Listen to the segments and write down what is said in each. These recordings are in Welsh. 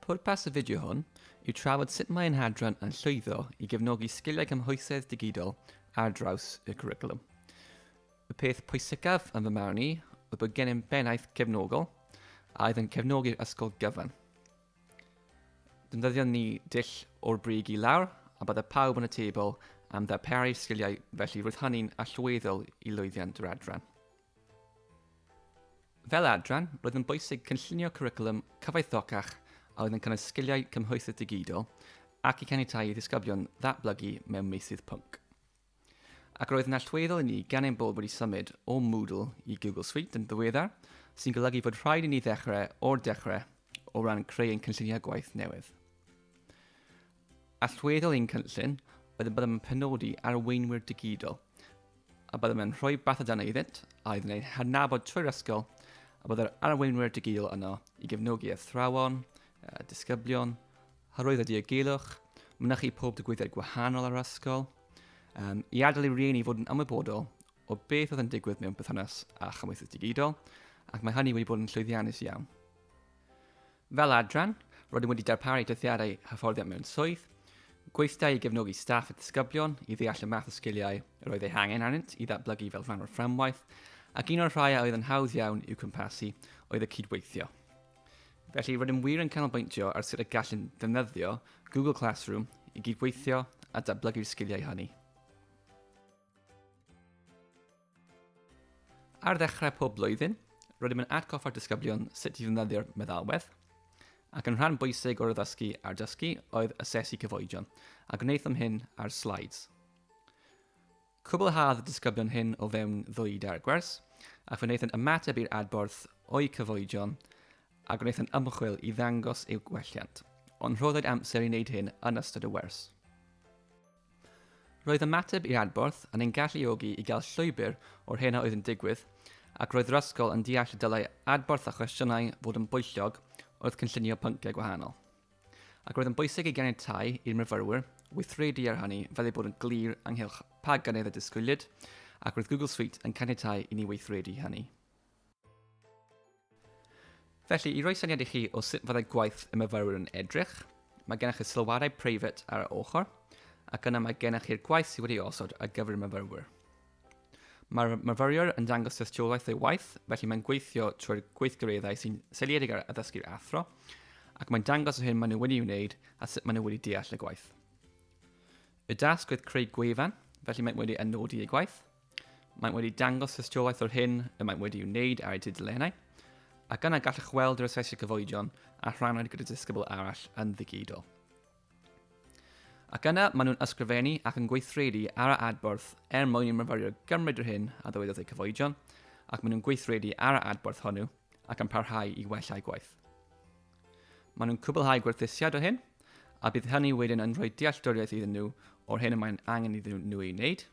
Pwrpas y fideo hwn yw trafod sut mae ein hadran yn llwyddo i gefnogi sgiliau cymhwysedd digidol ar draws y cwricwlwm. Y peth pwysicaf yn fy marn i oedd bod gennym bennaeth cefnogol a oedd yn cefnogi'r ysgol gyfan. Dyndyddion ni dull o'r brig i lawr, a bydde pawb yn y tebl am ddarparu sgiliau felly roedd hynny'n allweddol i lwyddiant yr adran. Fel adran, roedd yn bwysig cynllunio cwricwlwm cyfoethocach a oedd yn cynnwys sgiliau cymhwysedd digidol ac i caniatáu i ddisgyblion ddatblygu mewn meysydd pwnc. Ac roedd yn allweddol i ni gan ein bod wedi symud o Moodle i Google Suite yn ddiweddar, sy'n golygu fod rhaid i ni ddechrau o'r dechrau o ran creu ein cynlluniau gwaith newydd. Allweddol i'n cynllun oedd y byddem yn penodi arweinwyr digidol, a byddem yn rhoi bathodana iddynt a iddyn ein hadnabod trwy'r ysgol, a byddai'r arweinwyr digidol yno i gefnogi athrawon, disgyblion, Hyrwyddo a diogelwch, mynychu pob digwyddiad gwahanol ar yr ysgol, um, i adael i rieni fod yn ymwybodol o beth oedd yn digwydd mewn perthynas â chymwythus digidol, ac mae hynny wedi bod yn llwyddiannus iawn. Fel adran, roeddwn wedi darparu dyddiadau hyfforddiant mewn swydd, gweithdai i gefnogi staff a disgyblion i ddeall y math o sgiliau yr oedd eu hangen arnynt i ddatblygu fel rhan o'r fframwaith, ac un o'r rhai a oedd yn hawdd iawn i'w cwmpasu oedd y cydweithio. Felly, rydym wir yn canolbwyntio ar sut y gallwn ddefnyddio Google Classroom i gydweithio a datblygu'r sgiliau hynny. Ar ddechrau pob blwyddyn, rydym yn atgoffa'r disgyblion sut i ddefnyddio'r meddalwedd, ac yn rhan bwysig o'r addysgu a'r dysgu oedd asesu cyfoedion, a gwnaethom hyn ar slides. Cwblhaodd y disgyblion hyn o fewn ddwy dair gwers, ac fe wnaethant ymateb i'r adborth o'u cyfoedion a gwnaethant ymchwil i ddangos eu gwelliant, ond rhoddwyd amser i wneud hyn yn ystod y wers. Roedd ymateb i'r adborth yn ein galluogi i gael llwybr o'r hyn a oedd yn digwydd, ac roedd yr ysgol yn deall y dylai adborth a chwestiynau fod yn bwyllog wrth gynllunio pynciau gwahanol. ac roedd yn bwysig i ganiatáu i'r myfyrwyr weithredu ar hynny fel ei bod yn glir ynghylch pa gynnydd y disgwyliad, ac roedd Google Suite yn caniatáu i ni weithredu hynny. Felly, i roi syniad i chi o sut fyddai gwaith y myfyrwyr yn edrych, mae gennych chi sylwadau preifat ar y ochr, ac yna mae gennych chi'r gwaith sydd wedi osod ar gyfer y myfyrwyr. Mae'r myfyriwr yn dangos tystiolaeth ei waith, felly mae'n gweithio trwy'r gweithgareddau sy'n seiliedig ar addysgu'r athro, ac mae'n dangos yr hyn maen nhw wedi ei wneud a sut maen nhw wedi deall y gwaith. Y dasg oedd creu gwefan, felly mae'n wedi anodi ei gwaith. Mae'n wedi dangos tystiolaeth o'r hyn y mae'n wedi ei wneud ar ei tudalennau, ac yna gallwch weld yr asesu cyfoedion a rhannwyd gyda disgybl arall yn ddigidol. Ac yna maen nhw'n ysgrifennu ac yn gweithredu ar y adborth er mwyn i myfyriwr gymryd yr hyn a ddywedodd eu cyfoedion, ac maen nhw'n gweithredu ar y adborth hwnnw ac yn parhau i wella eu gwaith. Maen nhw'n cwblhau gwerthusiad o hyn, a bydd hynny wedyn yn rhoi dealltwriaeth iddyn nhw o'r hyn y mae'n angen iddyn nhw ei wneud,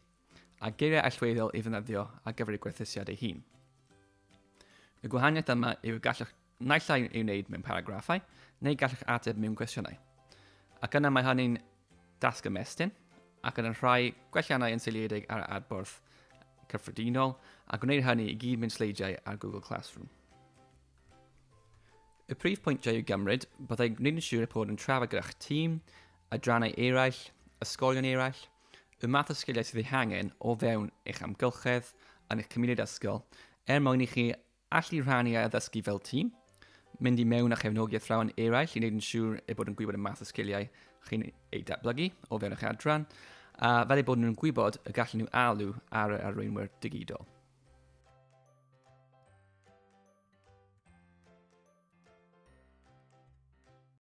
a geiriau allweddol i ddefnyddio ar gyfer eu gwerthusiad ei hun. Y gwahaniaeth yma yw y gallwch Naill ai ei wneud mewn paragraffau, neu gallwch ateb mewn cwestiynau. Ac yna mae hynny'n dasg ymestyn, ac yn yr rhai gwelliannau yn seiliedig ar adborth cyffredinol, a gwneir hynny i gyd mewn sleidiau ar Google Classroom. Y prif pwyntiau i'w gymryd byddai gwneud yn siŵr y bod yn trafod gyda'ch tîm, adrannau eraill, ysgolion eraill, y math o sgiliau sydd eu hangen o fewn eich amgylchedd yn eich cymuned ysgol er mwyn i chi Allu rhannu a addysgu fel tîm, mynd i mewn a chefnogi athrawon eraill i wneud yn siŵr eu bod yn gwybod y math o sgiliau chi'n eu datblygu o fewn eich adran, a fel eu bod nhw'n gwybod y gallen nhw alw ar yr arweinwyr digidol.